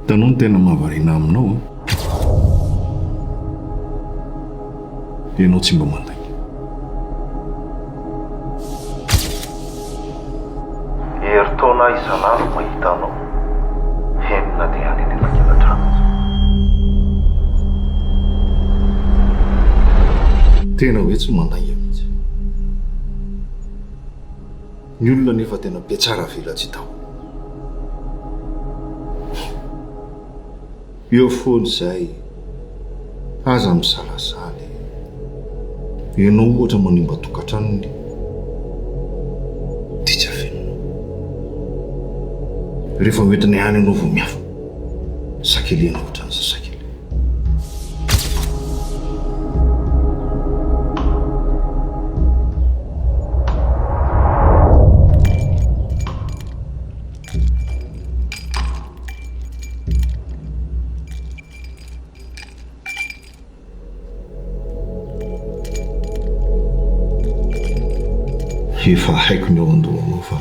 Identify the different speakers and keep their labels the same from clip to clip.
Speaker 1: Hitanao ny tena mahavariana aminao an! Ianao tsy mba mandainga. Herintaona aho isan'andro mahita anao, heno na dia any anelakelan-trano aza. Tena hoe tsy mandainga mihitsy. Ny olona anefa tena be tsara velatsihy tao. Eo foana izay, aza misalasala e! Ianao ohatra manimba tokantranony dia tsy afenina. Rehefa hoentiny ihany ianao vao miafina. Sakeliana ohatran'ny zazakely. Efa haiko ny ao an-dohanao fa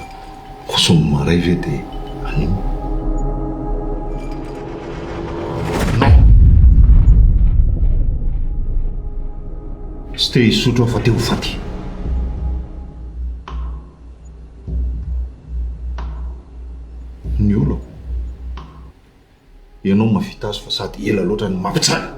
Speaker 1: Koa sao ny marais ve dia anio? Non! Tsy te hisotro aho fa te ho faty! Ny olako? Ianao no mahavita azy fa sady ela loatra no mampitsara!